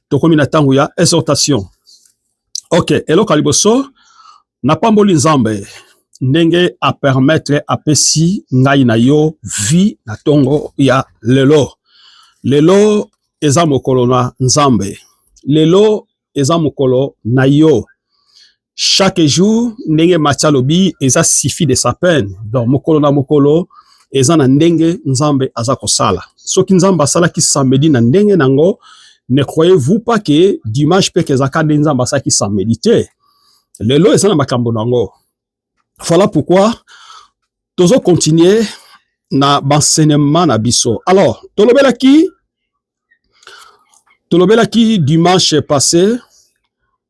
tokomi na tango ya exhortation. Ok, eloko liboso na pamboli Nzambe ndenge a permettre apesi ngai na yo vie na tongo ya lelo. Lelo eza mokolo na Nzambe. Lelo eza mokolo na yo. chaque jour ndenge macha lobi eza sifi de sa peine donc mokolo na mokolo eza na ndenge nzambe aza kosala soki nzambe asalaki samedi na ndenge nango ne croyez-vous pas que dimanche pe kezaka nde nzambe asalaki samedi te lelo eza na makambo nango voilà pourquoi tozo continuer na banseignement na biso alors tolobelaki tolobelaki dimanche passé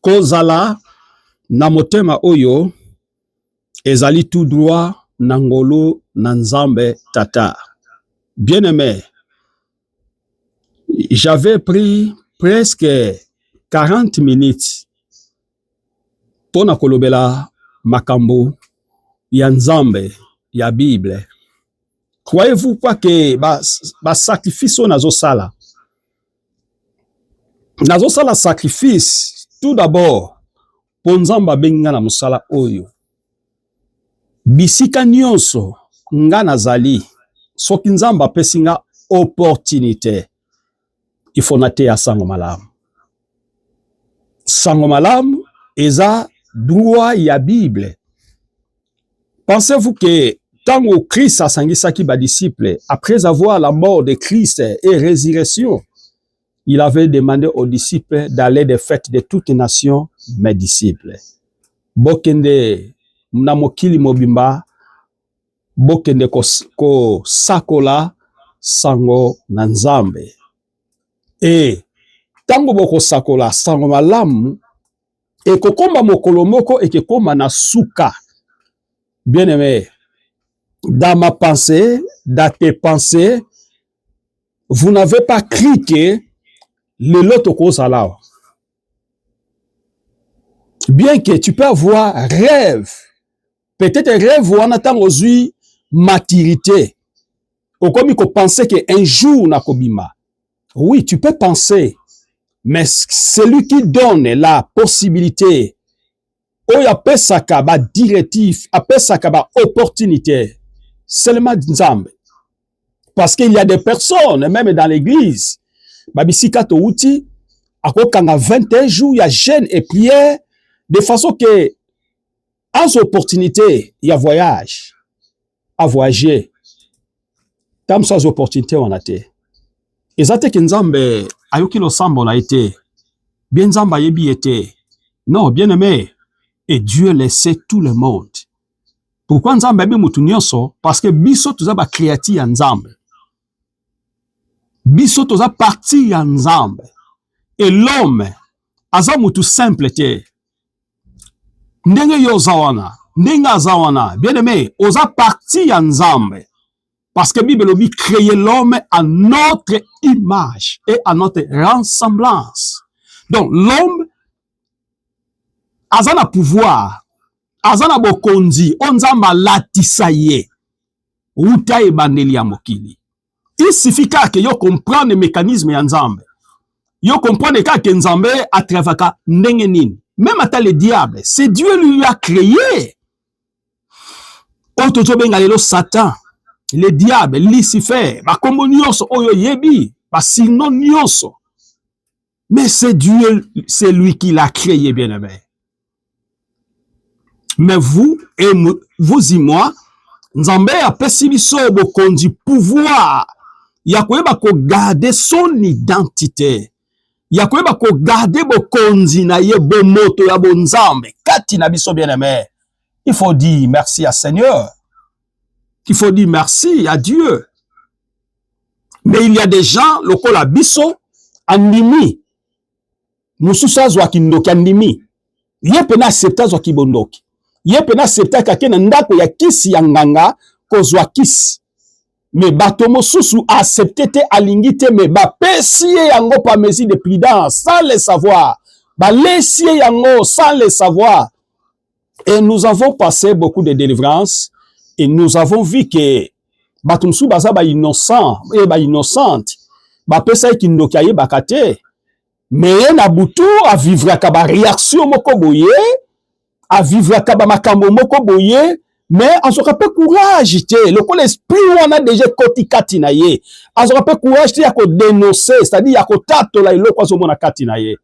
Kozala na motema oyo ezali tout droit na ngolu na Nzambe Tata. Bien aimé, j'avais pris presque 40 minutes mpo na kolobela makambo ya Nzambe ya Bible. Croyez-vous pas que ba, ba sacrifice oyo nazosala nazosala sacrifice tout d'abord mpo Nzambe abengi nga na mosala oyo. Bisika nyonso nga nazali, soki Nzambe apesi nga opportunité, il faut nateya sango malamu. Sango malamu eza droit ya Bible. Pensez-vous que tango Christ asangisaki ba disciples après avoir la mort de Christ et résurrection, il avait demandé aux disciples d'aller de fêtes de toutes nations mes disciples. Bokende na mokili mobimba bokende kosakola sango na Nzambe. E ntango bokosakola sango malamu ekokoma mokolo moko ekekoma na suka bien aime dans ma pensée dans tes pensées vous n'avez pas cri que lelo tokozala awa bien que tu peux avoir rêve peut-être rêve wana ntango ozwi maturité okomi kopense ke un jour nakobima Oui, tu peux penser, mais celui qui donne la possibilité, oyo apesaka ba directives, apesaka ba opportunités, seulement Nzambe. Parce qu'il y a des personnes, même dans l'église, babisika touti, akokanga 21 jours ya jeûne et prière, de façon que Azo opportunité ya voyage. A voyager. Tam sa opportunité wana te. Eza te ke Nzambe ayoki losambo na ye te. Bien Nzambe ayebi ye te. Non, bien aimé. Et Dieu le sait tout le monde. Pourquoi Nzambe ayebi mutu nyonso? Parce que biso toza ba créature ya Nzambe. Biso toza partie ya Nzambe. Et l'homme aza mutu simple te. ndenge yo oza wana ndenge aza wana bien aimé oza parti ya nzambe parce que bible elobi créer l'homme à notre image et à notre ressemblance donc l'homme aza na pouvoir aza na bokonzi oyo nzambe alatisa ye uta ebandeli ya mokili Il suffit kaka ke yo comprendre mecanisme ya Nzambe. Yo comprendre kaka ke Nzambe a travaka ndenge nini. Même ata le diable, c'est Dieu lui a créé. Oyo tozobenga lelo Satan, le diable, Lucifer, bakombo nyonso oyo yebi, basino nyonso. Mais c'est Dieu, c'est lui qui l'a créé, bien aimé. Mais vous et vous et moi, Nzambe a biso bokonzi pouvoir ya koyeba ko garder son identité ya koyeba ko garder bokonzi na ye bomoto ya bonzambe kati na biso bien aimé. Il faut dire merci à Seigneur. Il faut dire merci à Dieu. mais il y a des gens lokola biso andimi mosusu azwa kindoki andimi ye mpe na accepte azwa kibondoki ye mpe na acceptaki ake na ndako ya kisi ya nganga kozwa kisi me bato mosusu aaccepte te alingi te me bapesi ye yango pa mesure de prudence sans le savoir balesi ye yango sans le savoir et nous avons passé beaucoup de délivrance et nous avons vu que bato mosusu baza ba innocent et eh, ba innocente bapesaki kindoki ayebaka te me ye na butu avivraka bareaktio moko boye avivraka bamakambo moko boye me azwaka mpe courage te lokola esprit wana deja ekoti kati na ye azwaka mpe courage te ya kodenonse c'est-à-dire ya kotatola eloko azomona kati na ye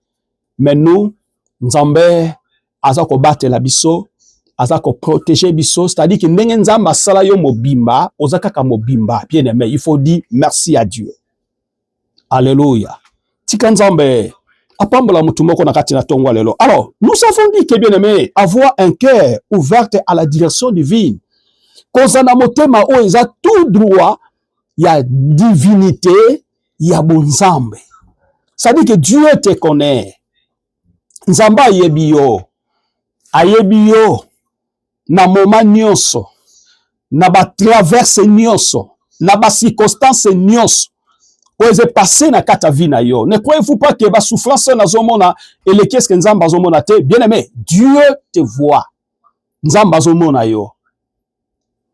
mais nous nzambe aza kobatela biso aza ko protéger biso c'est à dire que ndenge nzambe asala yo mobimba oza kaka mobimba bien aimé il faut dire merci à dieu alléluia tika nzambe apambola motu moko na kati na tongo ya lelo alors nous avons dit que bien aimé avoir un cœur ouverte à la direction divine kozala na motema oyo eza tout droit ya divinité ya bonzambe cest que Dieu te connaît nzambe ayebi yo ayebi yo na moma nyonso na batraverse nyonso na bacirconstance nyonso oyo eze passe na kati ya vie na yo ne croyez-vous pas que basouffrance oyo nazomona eleki eske nzambe azomona te bien aimé dieu te voit nzambe azomona yo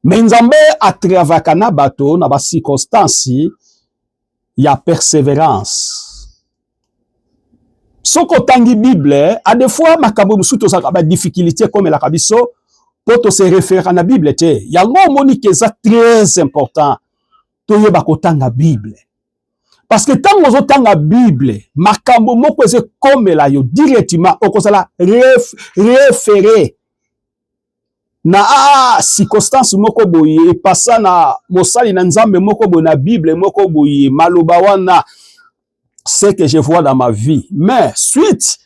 Mais Nzambe a travaillaka na bato na ba circonstances ya perseverance. Soki otangi Bible, a des fois makambo mosusu tozalaka ba difficulté ekomelaka biso mpo to se referaka na Bible te. Yango omoni ke eza très important toyeba kotanga Bible. Parce que ntango ozotanga Bible, makambo moko ezekomela yo directement, okozala ref, refere na a circonstance moko boye epasa na mosali na Nzambe moko boye na Bible moko boye maloba wana ce que je vois dans ma vie mais suite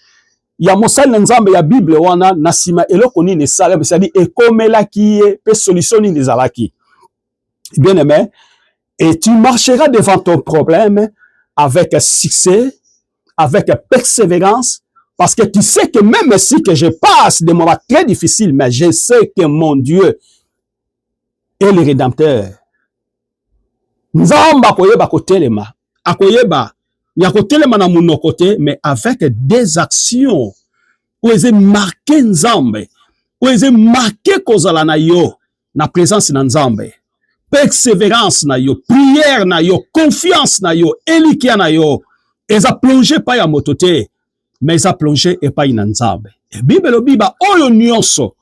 ya mosali na Nzambe ya Bible wana na sima eloko nini esalami c'est-à-dire ekomelaki ye pe solution nini ezalaki bien aimé et tu marcheras devant ton problème avec succès avec persévérance, parce que tu sais que même si que je passe des moments très difficiles, mais je sais que mon Dieu est le Rédempteur. Nzamba koyeba kotelema, akoyeba ya kotelema na monoko te, mais avec des actions oyo eze marke Nzambe, oyo eze marke kozala na yo. na presence na Nzambe, perseverance na yo, prière na yo, confiance na yo, elikya na yo eza plonge epai ya moto te, mais eza plonge epai na Nzambe. E Bible elobi ba oyo nyonso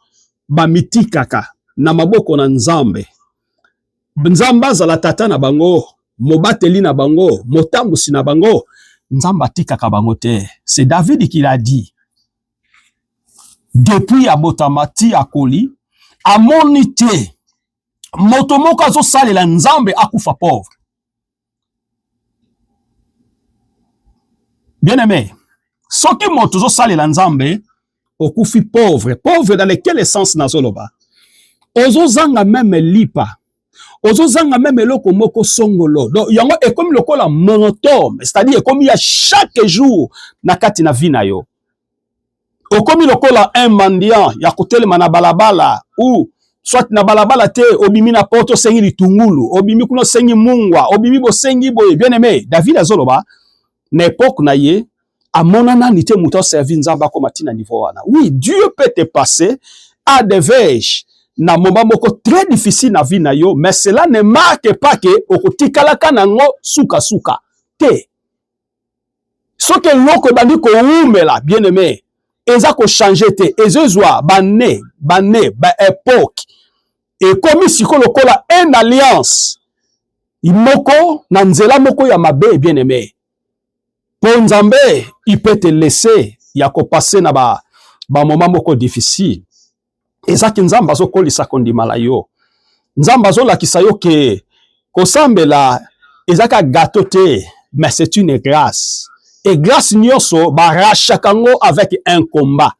bamitikaka na maboko na Nzambe, Nzambe azala tata na bango, mobateli na bango, motambwisi na bango, Nzambe atikaka bango te. C'est David qui l'a dit. depuis abotama ti akoli amoni te moto moko azosalela nzambe akufa pauvre bien aime soki moto ozosalela nzambe okufi pauvre pauvre dans lequel essence nazoloba ozozanga meme lipa ozozanga meme eloko moko songolo donc yango ekomi lokola monotome c'est-à-dire ekomi ya chaque jour na kati na vie na yo okomi lokola un mendiant ya kotelema na balabala ou soit na balabala te obimi na poto osengi litungulu obimi kuna osengi mungwa obimi bosengi boye bien aime david azoloba na epoque na ye amona nani te moto aservi nzambe akoma ntina niveau wana oui dieu peut te passer à des vege na moment moko très difficile na vie na yo mais cela ne marque pas que okotikalaka nango sukasuka te soki eloko ebandi kowumela bien aime eza kochange te ezozwa bane bane baepoke ekomi siko lokola un alliance moko na nzela moko ya mabe bien aime mpo nzambe ipete lese ya kopase na ba bamoma moko difficile ezaki nzambe azokolisa kondima na yo nzambe azolakisa yo ke kosambela ezaka gato te mais c'est une grâce et grâce nyonso barachaka yango avec un combat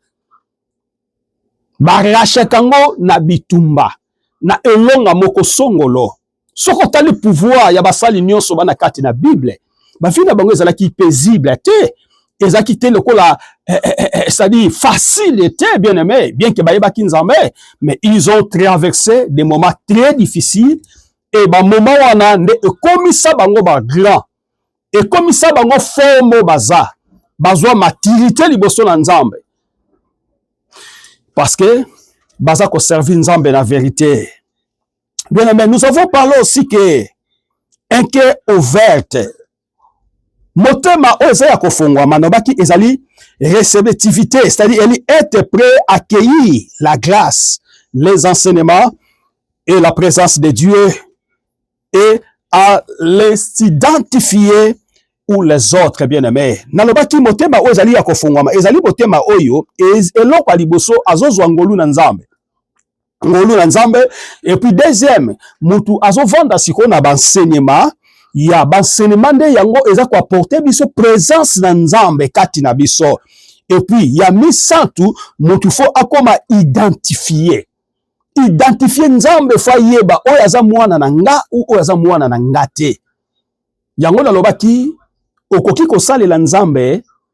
barachaka yango na bitumba na elonga moko songolo Soki otali pouvoir ya basali nyonso bana kati na Bible, bavi na bango ezalaki paisible te, ezalaki te lokola eh, eh, eh, eh c'est-à-dire facile te bien aimé, bien que bayebaki Nzambe, mais ils ont traversé des moments très difficiles et ba moment wana nde ekomisa bango ba grand, ekomisa bango forme baza, bazwa maturité liboso na Nzambe parce que baza ko servir Nzambe na verite. Bien aimé, nous avons parlé aussi que un cœur ouverte motema oyo eza ya kofongwama nabaki ezali receptivité c'est-à-dire eli être prêt à accueillir la grâce les enseignements et la présence de Dieu et à les identifier ou les autres bien aimé nalobaki motema oyo ezali ya kofongwama ezali motema oyo eloko ya liboso azozwa ngolu na nzambe ngolu na nzambe et puis deuxième mutu azovanda sikoyo na bansenema ya bansenema nde yango eza koaporte biso presence na nzambe kati na biso et puis ya misato mutu fo akoma identifie identifie nzambe fo ayeba oyo aza mwana na nga ou oyo aza mwana na nga te yango nalobaki okoki kosalela nzambe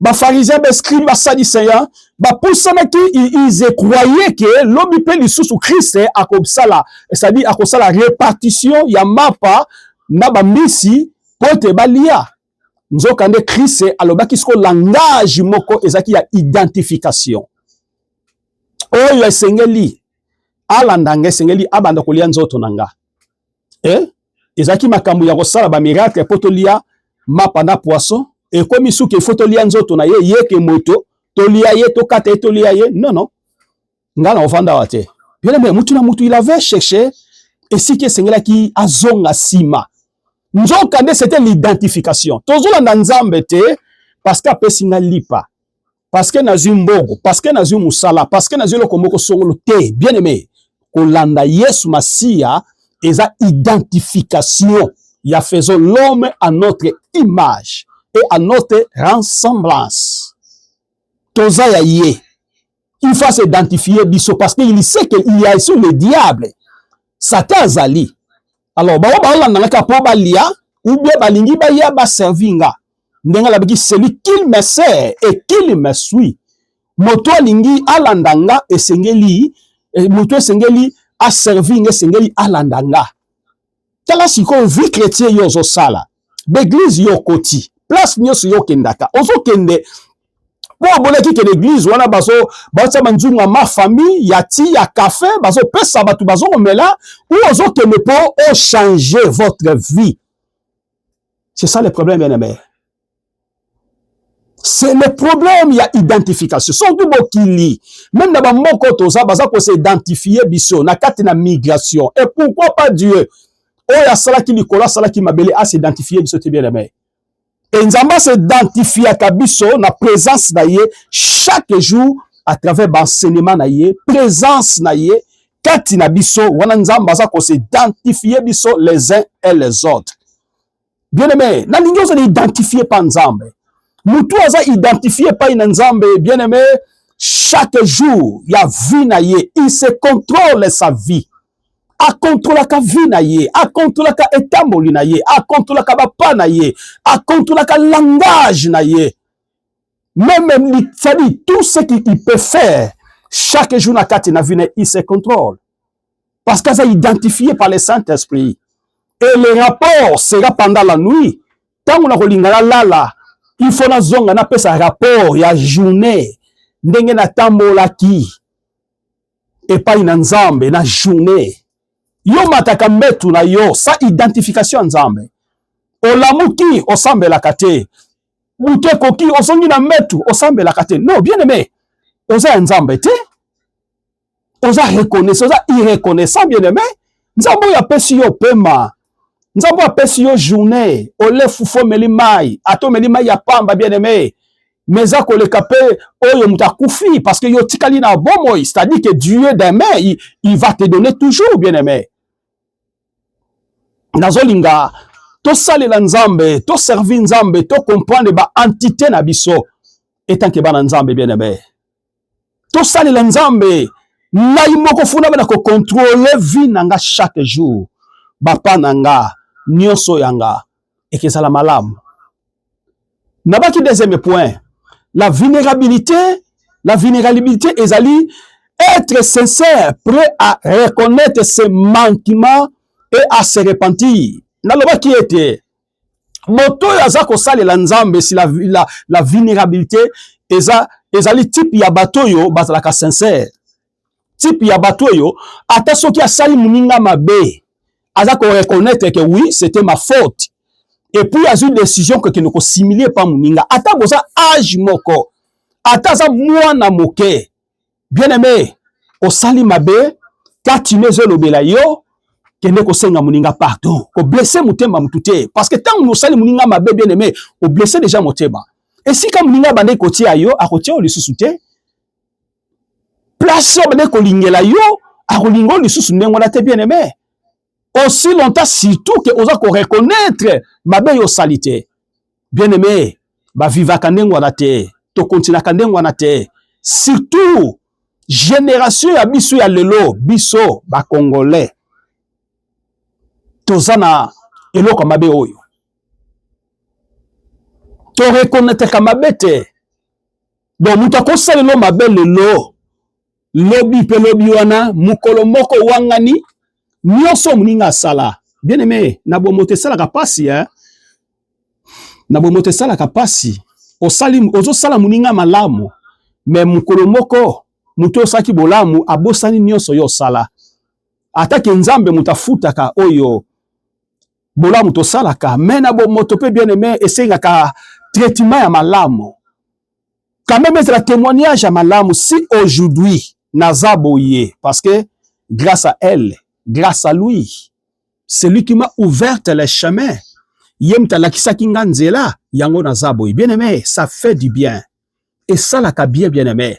bafarisien bascribe basadiseya bapusanaki ils croyaient que lobi mpe lisusu krist akosala c'est-à-dire akosala répartition ya mapa na bambisi mpo ete balia nzokande krist alobaki siko langage moko ezalaki ya identification oyo esengeli alanda nga esengeli abanda kolia nzoto na nga eh? ezalaki makambo ya kosala ba miracle mpo tolia mapa na poisson ekomi suki ifo tolia nzoto na ye ye ke moto tolia ye tokata ye tolia ye non non ngai na ofanda wa te bien aimé mutu na mutu il avait cherché esika esengelaki azonga nsima nzoka nde c'était l'identification tozolanda nzambe te parce que apesi ngai lipa parce que nazwi mbongo parce que nazwi mosala parce que nazwi eloko moko songolo te bien aimé kolanda yesu masiya eza identification ya faisons l'homme à notre image et à notre ressemblance toza ya ye il faut s'identifier biso parce que il sait que il y a sur le diable satan azali alors bango baolanda nga kaka mpo balia ou bien balingi baya baservi nga ndenge alobaki celui qu'il me sert et qu'il me suit moto alingi alanda nga esengeli eh, moto esengeli aservi nga esengeli alanda nga tala sikoyo vie chrétien yo ozosala ba eglise yo okoti place nyonso yo okendaka ozokende mpo omonaki ke l'église wana baotya banzunga ma famille ya ti ya cafe bazopesa bato bazokomela ou ozokende mpo ochange votre vie c'est ça le problème bien aimé c'est le problème ya identification surtout bokili même na bamoko toza baza kose identifie biso na kati na migration et pourquoi pas dieu oyo asalaki likolo asalaki mabele a s'identifie biso te bien aimé e nzambe asidentifiaka biso na présence na ye chaque jour à travers baenseignement na ye présence na ye kati na biso wana nzambe aza kose identifie biso les uns et les autres Bien aimé, na lingi ozo identifier pa Nzambe. Mutu aza identifier pa ina Nzambe, bien aimé, chaque jour ya vie na ye, il se contrôle sa vie. A contrôlaka vie na ye, a contrôlaka etamboli na ye, a contrôlaka ba pas na ye, a contrôlaka langage na ye. Même ça dit tout ce qu'il peut faire chaque jour na kati na vie na il se contrôle. Parce que ça identifié par le Saint-Esprit. Et le rapport sera pendant la nuit. Tant qu'on a kolingala lala, il faut na zonga na pesa rapport ya journée ndenge na tambolaki epai na Nzambe na journée. Yo mataka mbetu na yo sa identification ya Nzambe. Olamuki osambelaka te. Butu ekoki ozongi na mbetu osambelaka te. Non, bien aimé. Oza ya Nzambe te. oza reconnaissant oza irreconnaissant bien aimé nzambe oyo apesi yo pema nzambe oyo apesi yo journée ole fufu omeli mai ata omeli mai ya pamba bien aimé mais eza koleka mpe oyo moto akufi parce que yo otikali na bomoi c'est-à-dire que dieu demain il, il va te donner toujours bien aimé nazolinga tosalela nzambe toservi nzambe tocomprendre baentité na biso etanke bana nzambe bien aimé tosalela nzambe ngai moko funa bana kokontrole vie na nga chaque jour bapa na nga nyonso ya nga ekezala malamu nabaki deuxième point la vulnérabilité la vulnérabilité ezali être sincère prêt à reconnaître ses manquements et à se repentir nalobaki ete moto oyo aza kosalela nzambe si la, la, la vulnérabilité eza ezali type ya bato oyo bazalaka sincère type ya bato oyo ata soki asali moninga mabe aza koreconnaitre ke oui c'était ma faute epuis azwi décision kokende kosimilie epa moninga ata boza age moko ata aza mwana moke bien aime osali mabe kati no ezolobela yo kende kosenga moninga pardon koblesse motema motu te parce que ntango osali moninga mabe bien aime oblesse deja motema esika moninga abandaki kotia yo akotia yo lisusu te place oyo abandaki kolingela yo akolinga yo lisusu ndenge wana te bien aime aussi longtemps surtout que oza ko reconnaître mabe yo sali te bien aimé ba vivaka ndenge wana te to continuaka ndenge wana te surtout generation ya biso ya lelo biso ba congolais toza na eloko mabe oyo to reconnaître mabe te donc moto akosalelo mabe lelo Lobi mpe lobi wana mokolo moko wangani nyonso moninga asala bien aime na bomoto esalaka mpasi eh? na bomoto esalaka mpasi osali ozosala moninga malamu me mokolo moko moto oyo osalaki bolamu abosani nyonso yo osala atake nzambe moto afutaka oyo bolamu tosalaka me na bomoto mpe bien aime esengaka traitement ya malamu quand même ezala témoignage ya malamu si aujourd'hui naza boye parce que grâce à elle grâce à lui celui qui m'a ouverte le chemin ye moto alakisaki nga nzela yango naza boye bien aimé ça fait du bien esalaka bien bien aimé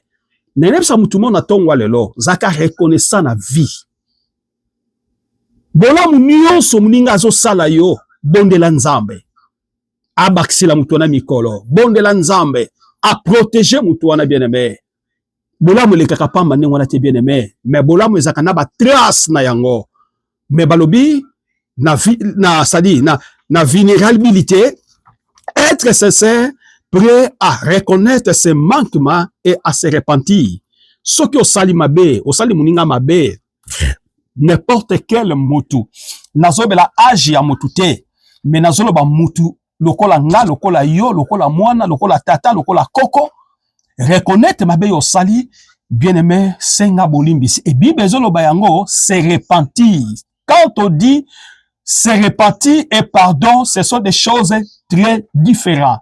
nayebisa motu mo na ntongwa lelo zaka reconnaissant na vie bolamu nyonso moninga azosala yo bondela nzambe abakisela moto wana mikolo, bondela Nzambe aproteje moto wana bien aime. Bolamu elekaka pamba ndenge wana te bien aime, me bolamu ezalaka na batrace na yango. Me balobi na, na, sadi, na, na vulnerabilité être sincère prêt à reconnaître ses manquements et à se repentir soki osali mabe osali moninga mabe n'importe quel mutu nazobela age ya mutu te me nazoloba mutu lokola nga lokola yo lokola mwana lokola tata lokola koko reconnaitre mabe yo osali bien aime senga bolimbisi e bible ezoloba yango se repentir quand on dit se repentir et pardon ce sont des choses très différentes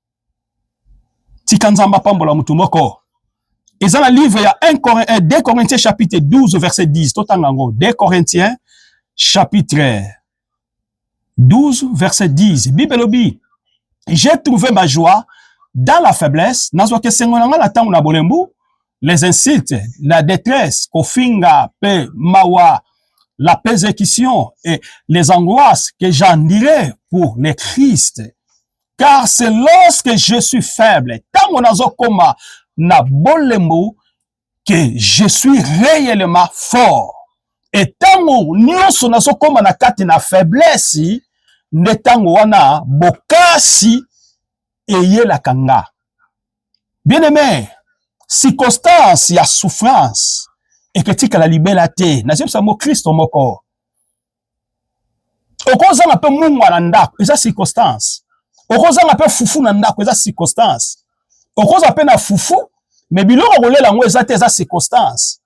tika nzambe apambola motu moko eza na livre ya 1 Corinthien, 2 Corinthiens chapitre 12 verset 10 totanga yango 2 Corinthiens chapitre 12 verset 10 bible elobi j'ai trouvé ma joie dans la faiblesse nazwaki esengo na ngai na ntango na bolembu les insultes la détresse kofinga mpe mawa la persécution et les angoisses que j'endurais pour le Christ car c'est lorsque je suis faible ntango nazokoma na bolembu que je suis réellement fort etango nyonso nazokoma na kati na faiblesse nde ntango wana bokasi eyelaka nga bien aimé circonstance ya souffrance eketikala libela te nazebisa mo kristo moko okozanga mpe mungwa na ndako eza circonstance okozanga mpe fufu na ndako eza circonstance okoza mpe na fufu me biloko kolela yango eza te eza circonstance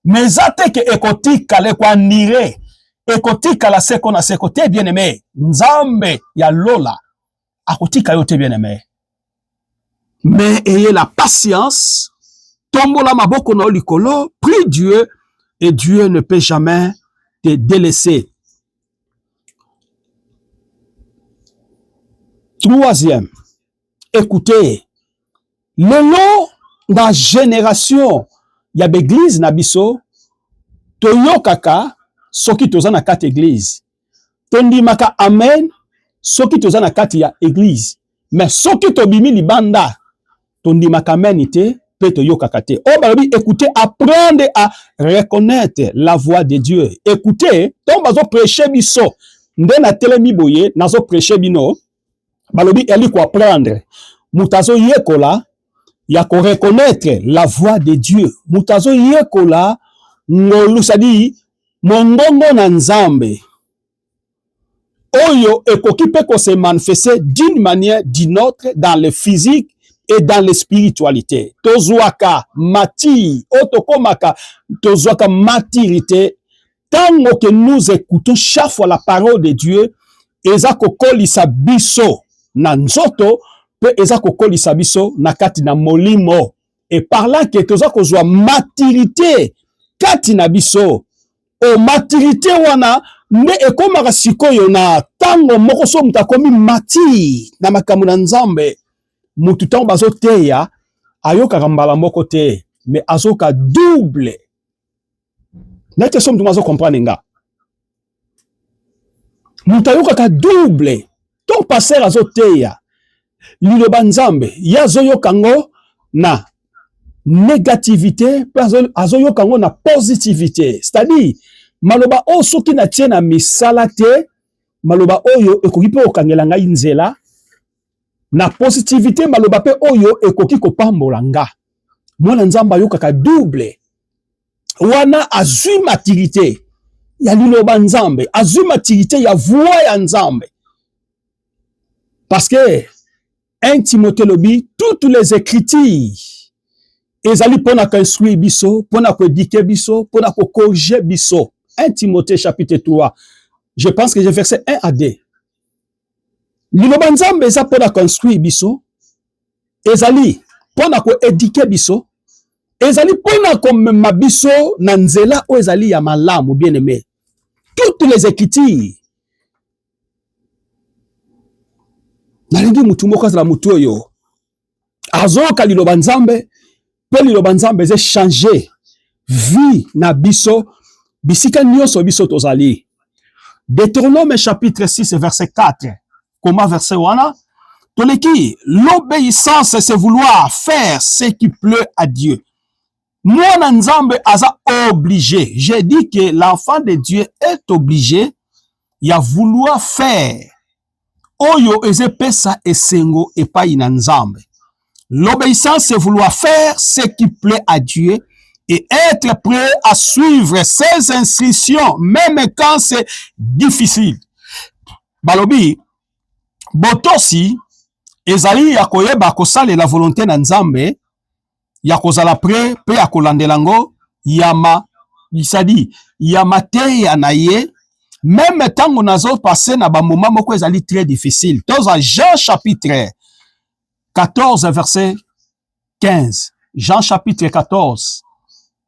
me eza te ke ekotikala ekoandire ekotikala seko na seko te bien aime nzambe ya lola akotika yo te bien aimé mais ayez la patience tombola maboko na yo likolo prie Dieu et Dieu ne peut jamais te délaisser troisième écoutez lelo na génération ya baeglize na biso toyokaka soki toza na kati eglize tondimaka amen soki toza na kati ya eglise mais soki tobimi libanda tondimaka amen te mpe toyokaka te oyo oh, balobi écoute apprendre à reconnaître la voix de dieu écoute ntango bazopreche biso nde natelemi boye nazopreche bino balobi ezali koapprendre moto azoyekola ya koreconnaitre la voix de dieu moto azoyekola ngolu sadi mongongo na nzambe oyo ekoki mpe kose manifeste d'une manière d'une autre dans le physique et dans le spiritualité tozwaka mati oyo tokomaka tozwaka matirite Tango que nous écoutons chaque fois la parole de Dieu, eza kokolisa biso na nzoto pe eza kokolisa biso na kati na molimo. Et par là que toza kozwa maturité kati na biso. O maturité wana nde ekomaka sikoyo na tango moko so moto akomi mati na makambo na Nzambe. Moto tango bazoteya ayokaka mbala moko te, mais azoka double na te so moto azo comprendre nga moto ayokaka double to pasteur azoteya liloba nzambe ye azoyoka ngo na négativité mpe azoyoka yango na positivité c'est-à-dire maloba oyo soki natie na misala te maloba oyo ekoki mpe kokangela ngai nzela Na positivite maloba mpe oyo ekoki kopambola nga. Mwana Nzambe ayokaka double wana azwi matirite ya liloba Nzambe, azwi matirite ya voix ya Nzambe. Parce que 1 Timothée lobi toutes les écritures ezali mpo na koinstruire biso mpo na koedike biso mpo na kokorige biso 1 timothée chapitre 3 je pense que je verset 1 à 2 Liloba Nzambe eza mpo na construire biso, ezali mpo na koedike biso, ezali mpo na komema biso na nzela oyo ezali ya malamu. Bien aime, toutes les écritures nalingi motu moko azala motu oyo azoyoka liloba nzambe mpe liloba nzambe eze change vie na biso bisika nyonso biso tozali deuteronome chapitre 6 verset 4 koma verset wana toleki l'obéissance c'est vouloir faire ce qui pleut à dieu mwana nzambe aza oblige j'ai dit que l'enfant de dieu est oblige ya vouloir faire oyo eza epesa esengo epai na nzambe l'obéissance c'est vouloir faire ce qui plaît à dieu et être prêt à suivre ses instructions même quand c'est difficile balobi botosi ezali ya koyeba kosalela volonté na nzambe ya kozala pre mpe ya kolandela yango ya ma bisadi ya mateya na ye meme ntango nazo passe na bamoma moko ezali très difficile toza jean chapitre 14 verset 15 jean chapitre 14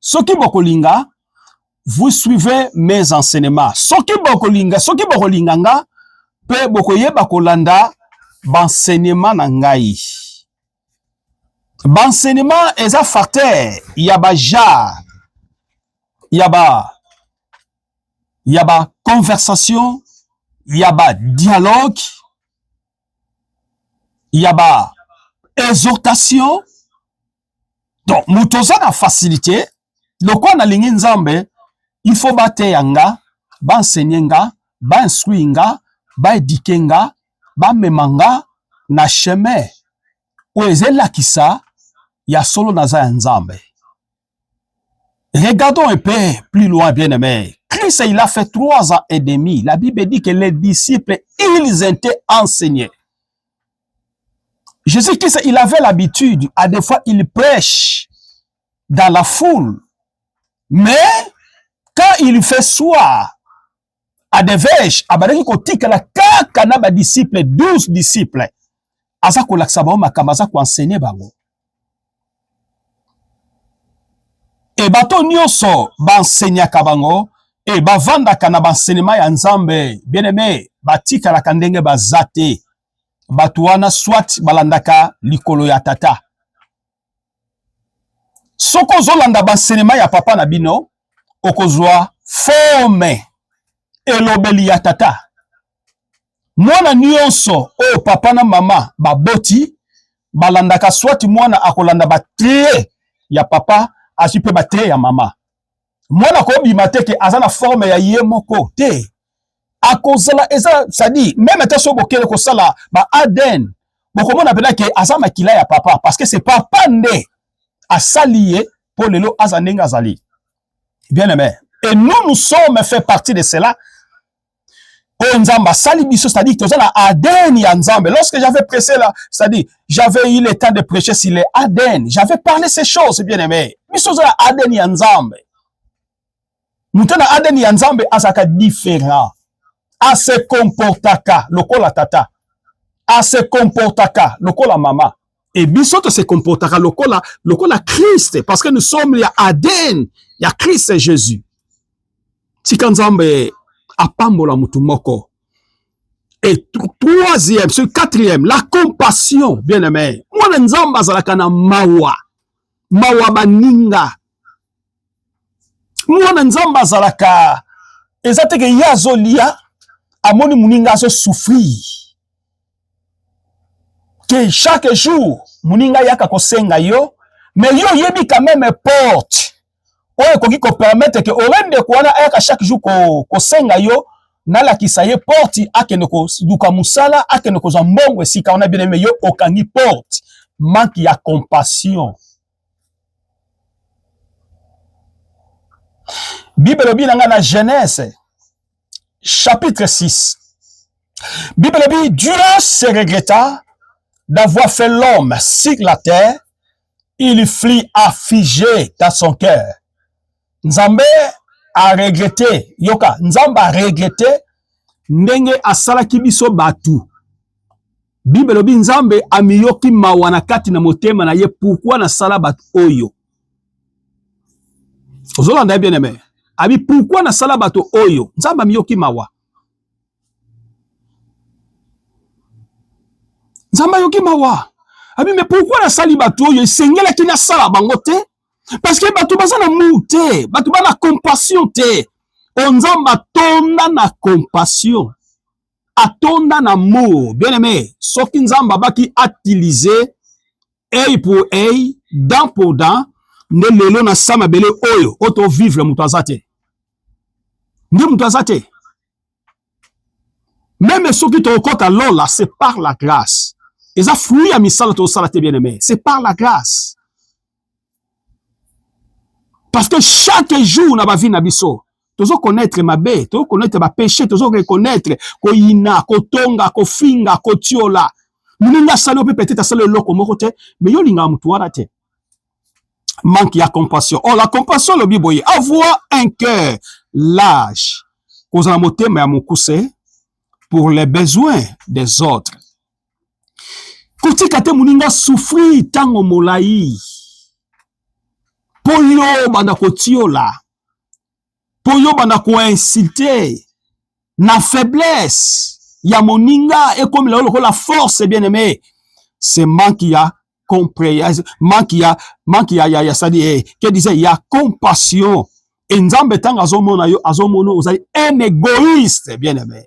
soki bokolinga vous suivez mes enseignements soki bokolinga soki bokolinga nga mpe bokoyeba kolanda bansenema na ngai bansenema eza facteur ya bajar ya ba ya ba conversation ya ba dialogue ya ba exhortation donc moto oza na facilité lokola nalingi nzambe il faut bateya nga baensegne nga bainstruire nga baedike nga bamema nga na chemin oyo eza elakisa ya solo naza ya nzambe regardons un peu plus loin bien aimé Christ, il a fait trois ans et demi. La Bible dit que les disciples, ils étaient enseignés. Jésus Christ, il avait l'habitude, à des fois, il prêche dans la foule. Mais, quand il fait soir, à des vêches, à Baraki Kotika, la kaka na ba disciples, 12 disciples, aza ko laksa bango makambo aza ko enseigner bango. E bato nyonso ba enseignaka bango e bavandaka na ba enseignement ya Nzambe. Bien aimé, batikalaka ndenge baza te. bato wana soit balandaka likolo ya tata soki ozolanda bansenema ya papa na bino okozwa forme elobeli ya tata mwana nyonso oyo papa na mama baboti balandaka soit mwana akolanda batie ya papa azwi mpe batie ya mama mwana akobima te ke aza na forme ya ye moko te akozala eza sadi meme ata so bokele kosala ba adn bokomona mpena ke aza makila ya papa parce que c'est papa nde asali ye mpo lelo aza ndenge azali bien aime et nous nous sommes fait partie de cela oyo nzambe asali biso c'est-à-dire toza na aden ya nzambe lorsque j'avais pressé là c'est-à-dire j'avais eu le temps de prêcher sur les aden j'avais parlé ces choses bien aimé biso toza na aden ya nzambe moto na aden ya nzambe azalaka différent ase comportaka lokola tata ase comportaka lokola mama Et biso to se comportaka lokola lokola Christ parce que nous sommes ya ADN ya Christ Jésus. Tika Nzambe apambola mutu moko. Et troisième, ce quatrième, la compassion, bien aimé. Mwana Nzambe azalaka na mawa. Mawa baninga. mwana nzambe azalaka eza te ke ye azolia amoni moninga azosouffrir ke chaque jour moninga yaka kosenga yo mais yo oyebi quand même porte oyo ekoki kopermettre ke ore ndeko wana ayaka chaque jour kosenga ko yo nalakisa ye porte akende koluka mosala akende kozwa mbongo esika wana bien aime yo okangi porte manque ya compassion Bible elobi na ngai na Genèse chapitre 6. Bible elobi Dieu se regretta d'avoir fait l'homme sur la terre, il fut affligé dans son cœur. Nzambe a regrette, yoka, Nzambe a regrette ndenge asalaki biso batu. Bible elobi Nzambe amiyoki mawa na kati na motema na ye pourquoi nasala bato oyo. Ozolanda ye bien aime. Abi pourquoi nasala bato oyo? Nzambe amiyoki mawa. Nzambe ayoki mawa. Abi mais pourquoi nasali bato oyo esengelaki nasala bango te? parce que bato baza na mur te bato ba na compassion te o oh, nzambe atonda na compassion atonda na mur bien aimé soki nzambe abaki atilize ei pour ei dent pour dent nde lelo na sa mabele oyo oyo tovivre moto aza te nde moto aza te meme soki tokokota lola c'est par la grâce eza fruit ya misala tosala te bien aimé c'est par la grâce parce que chaque jour na bavi na biso tozo connaître mabe tozo connaître bapeche tozo reconnaître koyina kotonga kofinga kotiola moninga asali yo mpe peut-être asali eloko moko te mais yo olingaka motu wana te manque ya compassion or oh, la compassion lobi boye avoir un cœur large kozala motema ya mokuse pour les besoins des autres kotika te moninga souffrir ntango molai mpo yo obanda kotiola to yo banda ko insulter na faiblesse ya moninga ekomela lokola force bien aimé c'est manque ya compréhension manque ya manque ya ya, ya sadi eh, que disait ya compassion et nzambe tanga azomona yo azomona ozali un égoïste bien aimé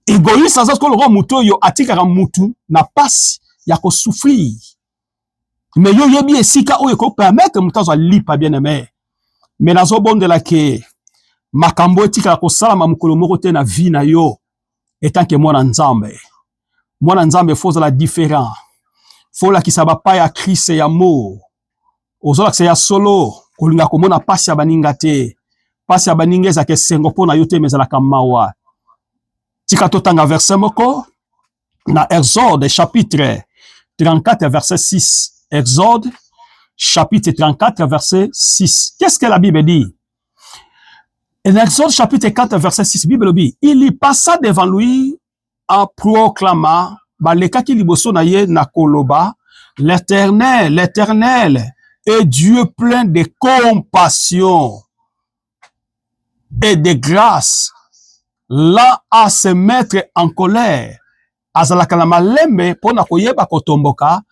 egoïste aza sikoyo lokola moto oyo atikaka motu na pasi ya kosouffrir mais yo oyebi esika oyo eko permettre moto azwa lipa bien aime mais nazobondela ke makambo etikala kosalama mokolo moko te na vie na yo etanke mwana nzambe mwana nzambe fo ozala différent fo olakisa bapa ya krist ya mo ozolakisa ya solo kolinga komona mpasi ya baninga te mpasi ya baninga ezalaka esengo mpo na yo te ma ezalaka mawa tika totanga verse moko na Exode chapitre 34 verset 6. Exode chapitre 34 verset 6. Qu'est-ce que la Bible dit? En Exode chapitre 4 verset 6, Bible dit, il y passa devant lui en proclamant balekaki liboso na ye na koloba l'Éternel, l'Éternel est Dieu plein de compassion et de grâce là à se mettre en colère azalaka na malembe mpo na koyeba kotomboka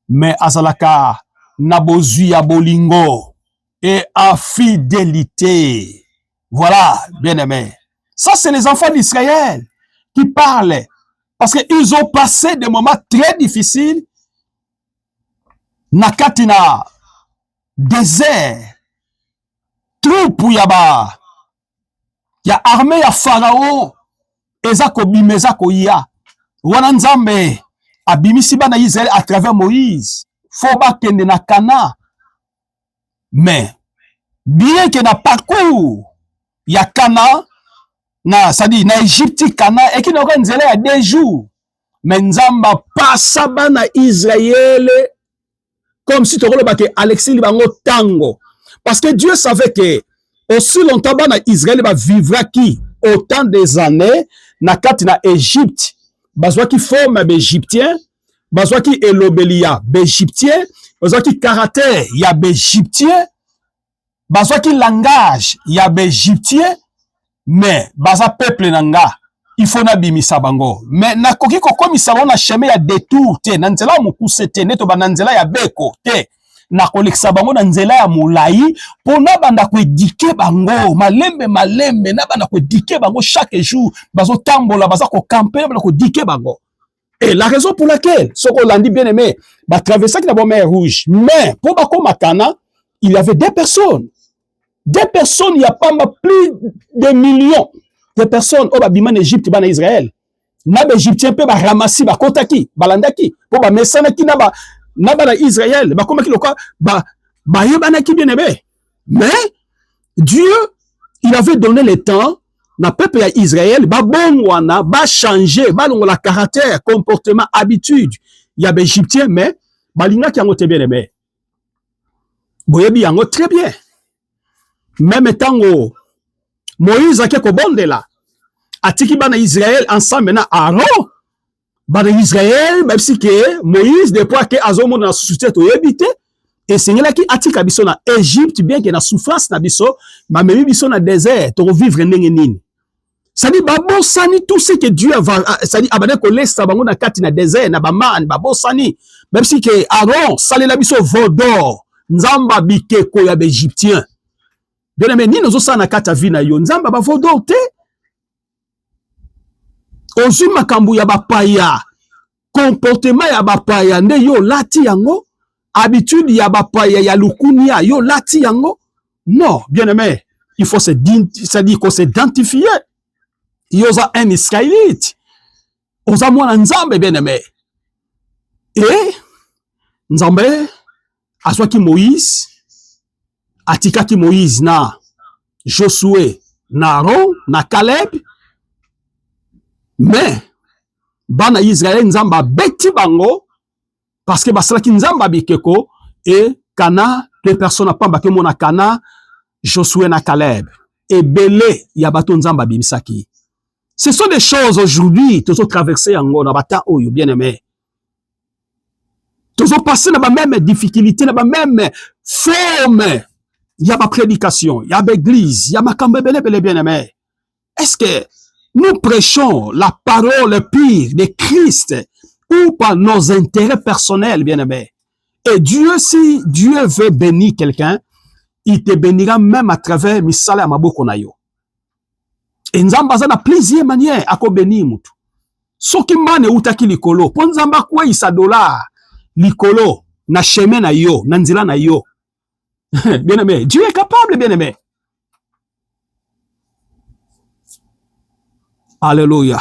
mais azalaka na bozwi ya bolingo et en fidélité voilà bien aimé ça c'est les enfants d'Israël qui parlent parce qu'ils ont passé des moments très difficiles na kati na désert troupe ya ba ya armée ya Pharaon eza kobima eza koya wana Nzambe abimisi bana Israël à travers Moïse faut bakende na Cana mais bien que na parcours ya Cana na sadi na Egypte Cana ekende oka nzela ya deux jours mais Nzamba pasa bana Israël comme si tokoloba ke alexi libango tango parce que dieu savait que aussi longtemps bana israel bavivraki autant des années na kati na egypte bazwaki forme ya baegyptien bazwaki elobeli ya baegyptien bazwaki karater ya baegyptien bazwaki langage ya baegyptien mais baza peuple na nga il faut nabimisa bango mais nakoki kokomisa bango na chemin ya detour te na nzela ya mokuse te nde tobanda nzela ya beko te nakolekisa bango na nzela ya molai mpo nabanda koedike bango malembe malembe nabanda koedike bango chaque jour bazotambola baza kokampe nabanda koedike bango Et la raison pour laquelle, ce qu'on l'a dit bien aimé, bah, traversé la bombe rouge. Mais, pour Bako Makana, il y avait des personnes. Des personnes, il n'y a pas plus de millions de personnes au oh, Babima, bah, Égypte, en Israël. Na ba Égyptien pe ba ramasi ba kotaki, ba landaki, po ba mesana ki na ba na ba na Israël, ba komaki loka ba ba yebana ki bien aimé. Mais Dieu il avait donné le temps na peuple ya Israël babongwana bachange balongola caractère comportement habitude ya baegyptien mais balingaki yango te bien aimé boyebi yango très bien meme ntango moïse ake kobondela atiki bana israel ensemble na aaron bana Israël babisi ke Moïse de poids ke azomona na susu te toyebi te esengelaki atika biso na Egypte bien ke na souffrance na biso bamemi biso na désert tokovivre ndenge nini sadi babosani tout ce que Dieu va sadi abandaki kolesa bango na kati na désert na bamane babosani babisi ke Aaron salela biso veau d'or nzamba bikeko ya baegyptien bien aimé nini ozosala na kati ya vie na yo nzamba ba veau d'or te ozwi makambo ya bapaya comportement ya bapaya nde yo olati yango habitude ya bapaya ya lukunia yo olati yango non bien aimé il faut se c'est-à-dire qu'on s'identifier yo oza un israélite oza mwana nzambe bien aimé e nzambe azwaki Moïse, atikaki Moïse na Josué, na Aaron, na Caleb, mais bana Israël Nzambe abeti bango parce que basalaki Nzambe abikeko et Kana deux personnes apamba ke mona Kana Josué na Caleb ebele ya bato Nzambe abimisaki. Ce sont des choses aujourd'hui tozo traverser yango na bata oyo bien aimé tozo passer na ba même difficulté na ba même forme ya ba prédication ya ba église ya makambo ebele ebele bien aimé est-ce que nous prêchons la parole pure de Christ ou par nos intérêts personnels bien aimé et Dieu si Dieu veut bénir quelqu'un il te bénira même à travers misala ya maboko na yo e nzambe aza na plusieurs manière akobeni motu soki mbana eutaki likolo mpo nzambe akweyisa dolar likolo na chemin na yo na nzela na yo bien aimé dieu est capable bien aimé alleluia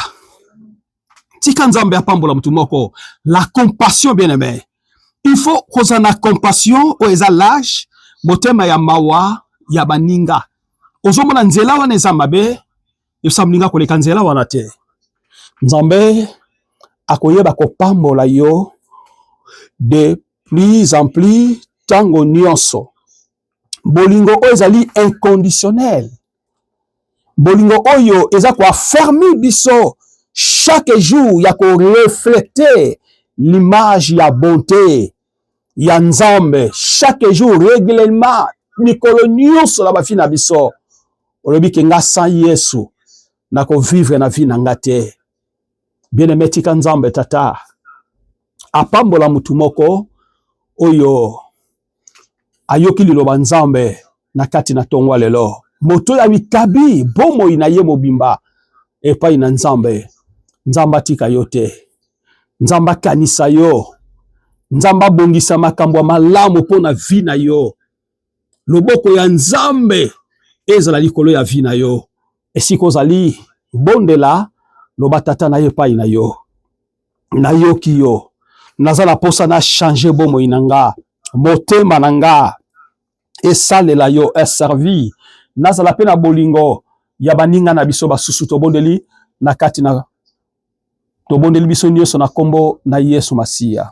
tika nzambe apambola motu moko la compassion bien aime il faut kozala na compassion oyo eza lage motema ya mawa ya baninga ozomona nzela wana eza mabe yosa moninga koleka nzela wana te nzambe akoyeba kopambola yo de plus en plus tango nyonso bolingo oyo ezali inconditionnel bolingo oyo eza koafermi biso chaque jour ya koreflete l'image ya bonte ya nzambe chaque jour reglement mikolo nyonso na bafi na biso olobi ke nga sans yesu nakovivre na vi na nga te bien aime tika nzambe tata apambola motu moko oyo ayoki liloba Nzambe na kati na tongo lelo, moto ya mikabi bomoi na ye mobimba epai na Nzambe. Nzambe atika yo te, Nzambe akanisa yo, Nzambe abongisa makambo ya malamu mpo na vi na yo. Loboko ya Nzambe ezala likolo ya vi na yo. Esika ozali bondela, loba tata na ye epai na yo. nayoki yo naza na posa na changer bomoi na nga motema na nga esalela yo eservi nazala mpe na bolingo ya baninga na biso basusu tobondeli na kati na tobondeli biso nyonso na nkombo na yesu masiya